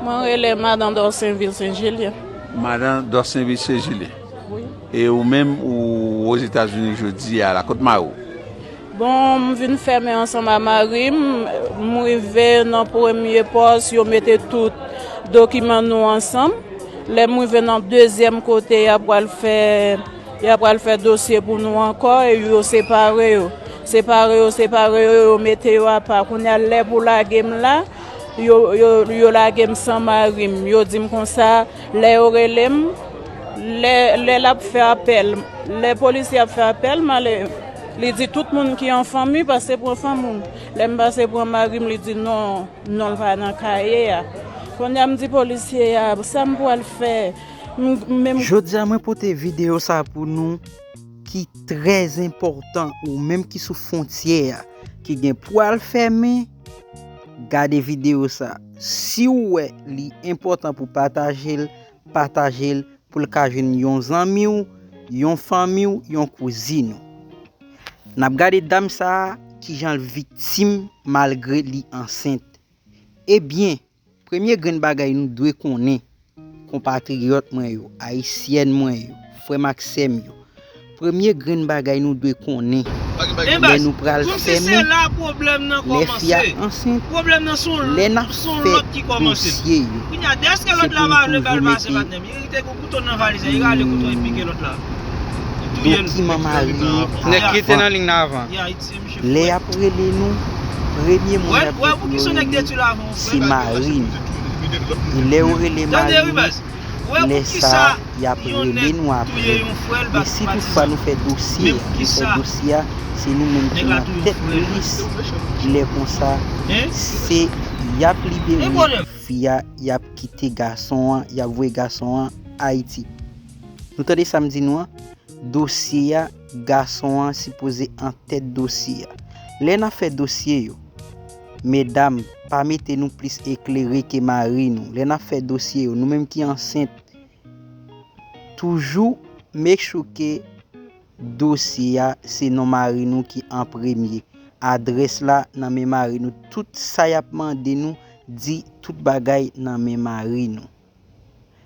Mwen rele Madan Dorsainville Saint Julien. Madan Dorsainville Saint Julien. Wi. E ou menm ou Ozetazini jodi a la, kot mari ou? Bon, m vin fèmen ansanm a mari m. M rive nan premye pòs, yo mete tout dokiman nou ansanm. Lè m rive nan dezyèm kote y ap pral fè, y ap pral fè dosye pou nou ankò e yo separe yo. Separe yo, separe yo, yo mete yo apa. Kounye a lè pou lage m la. Yo lage m san mari m, yo di m konsa, lè yo rele m, lè l ap fè apèl, lè polisye ap fè apèl m ale, li di tout moun ki an fanmi pase pran fanmi m. Lè m pase pran mari m, li di non, non l pa nan kaye a. Kounye a m di polisye a, sa m pral fè? Jodi a mwen pote videyo sa pou nou ki trè enpòtan ou menm ki sou fontyè a ki gen pou al fèmen. Gade video sa. Si ou wè li enpòtan pou pataje l, pataje l pou l ka jwenn yon zanmi w, yon fanmi w, yon kouzin ou. N ap gade dam sa a kijan l viktim malgre li ansent. Ebyen! Premye grenn bagay nou dwe konnen, konpatriyòt mwen yo, Ayisyèn mwen yo, frè m ak sè m yo, premye grenn bagay nou dwe konnen, lè nou pral fèmen, lè fi a ansent, lè n ap fè dosye yo, se pou nou toujou mete dokiman mari yo avan. Lè y ap rele nou, premye moun y ap gen pou yo rele, se mari n. E lè yo rele mari nou, lè sa a, y ap rele nou apre. E si toutfwa nou fè dosye a, nou fè dosye a, se nou menm ki nan tèt lis, lè konsa, se y ap libere fi a, y ap kite gason an, y ap voye gason an Ayiti. Nou tande sa m di nou an? Dosye a. Gason an sipoze an tèt dosye a. Lè nap fè dosye yo. Medam, pa mete nou plis eklere ke mari nou. Lè nap fè dosye yo, nou menm ki ansent, toujou make sure ke dosye a se non mari nou ki an premye. Adrès la nan men mari nou. Tout sa yap mande nou, di tout bagay nan men mari nou.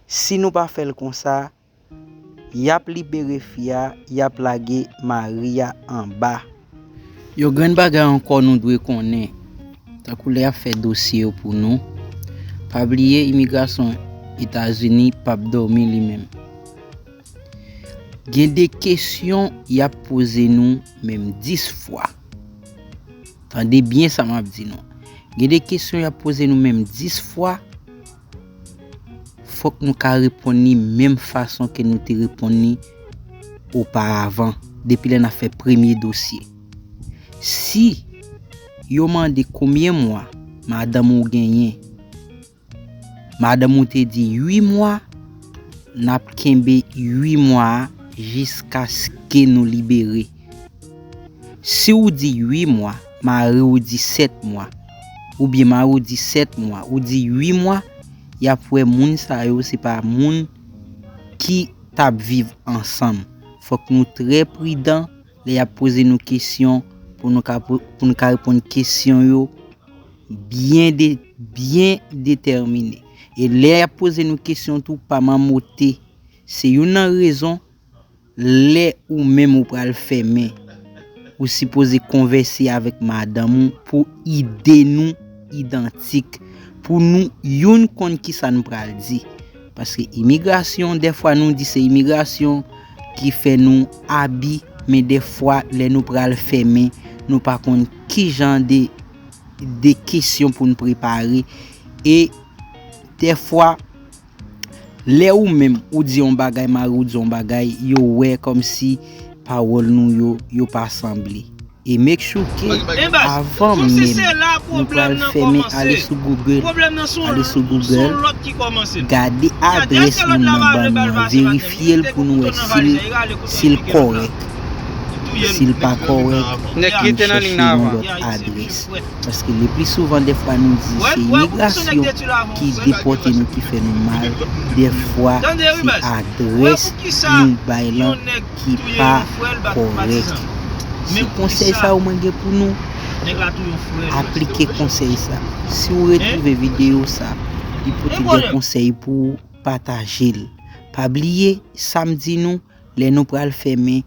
Si nou pa fèl konsa, Yap libere fi a yap lage mari a anba. Yon grenn bagay ankò nou dwe konnen tankou lè yap fè dosye yo pou nou pa bliye imigrasyon etazini pap dòmi li menm gen de kesyon yap poze nou menm 10 fwa tande byen sa map di nou gen de kesyon yap poze nou menm 10 fwa Fòk nou ka reponn li menm fason ke nou te reponn li oparavan, depi lè nan fè premye dosye. Si yo mande konbyen mwa madanm ou genyen, madanm ou te di 8 mwa, n ap kenbe 8 mwa a jiskaske nou libere. Si ou di 8 mwa. Mari w di 7 mwa. Oubyen mari w di 7 mwa, ou di 8 mwa, y ap wè moun sa yo se pa moun ki t ap viv ansanm. Fòk nou trè pridan lè y ap poze nou kesyon pou nou ka reponn kesyon yo byen detèmine. E lè y ap poze nou kesyon tou pa mamote. Se youn nan rezon. Lè ou menm ou pral fèmen, ou sipoze konvèse avèk madanm ou pou ide nou idantik, pou nou youn konn kisa n pral di. Paske imigrasyon, dèfwa nou di se imigrasyon ki fè nou abi, men dèfwa lè nou pral fèmen, nou pa konn kijan de de kesyon pou n prepare e dèfwa. Lè ou menm ou di yon bagay mari w di yon bagay yo wè kòmsi pawòl nou yo yo pa sanble e make sure ke avan menm nou pral fèmen ale sou google ale sou google gade adrès moun nan ban nou an verifye l pou nou wè sil sil kòrèk sil pa kòrèk nou chèche yon lòt adrès. Paske le pli souvan defwa nou di se imigrasyon ki depote nou ki fè nou mal, defwa se adrès nou bay lan ki pa korèk. Se konsèy sa yo mwen gen pou nou, aplike konsèy sa. Si ou retrouve video sa, li pote gen konsèy pou ou, patajel. Pa bliye, sa m di nou, lè nou pral fèmen.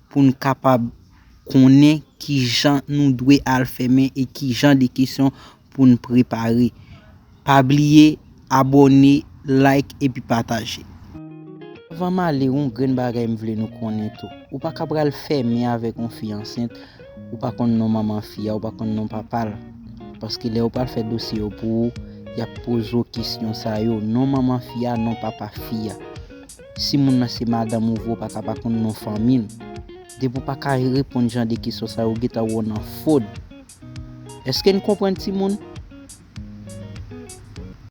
pou n kapab konnen kijan nou dwe al fèmen e kijan de kesyon pou n prepare. Pa bliye abòne, like epi pataje. Anvan m ale yon grenn bagay m vle nou konnen tou. Ou pa ka pral fèmen avèk yon fi ansent ou pa konn non manman fi a ou pa konn non papa l. Paske lè yo pral fè dosye yo pou ou, y ap poze w kesyon sa yo, non manman fi a, non papa fi a. Si moun nan se madanm ou vre ou paka pa konn non fanmil. Depi ou paka reponn jan de kesyon sa yo ou gentan wè w nan fod. Eske n konprann timoun?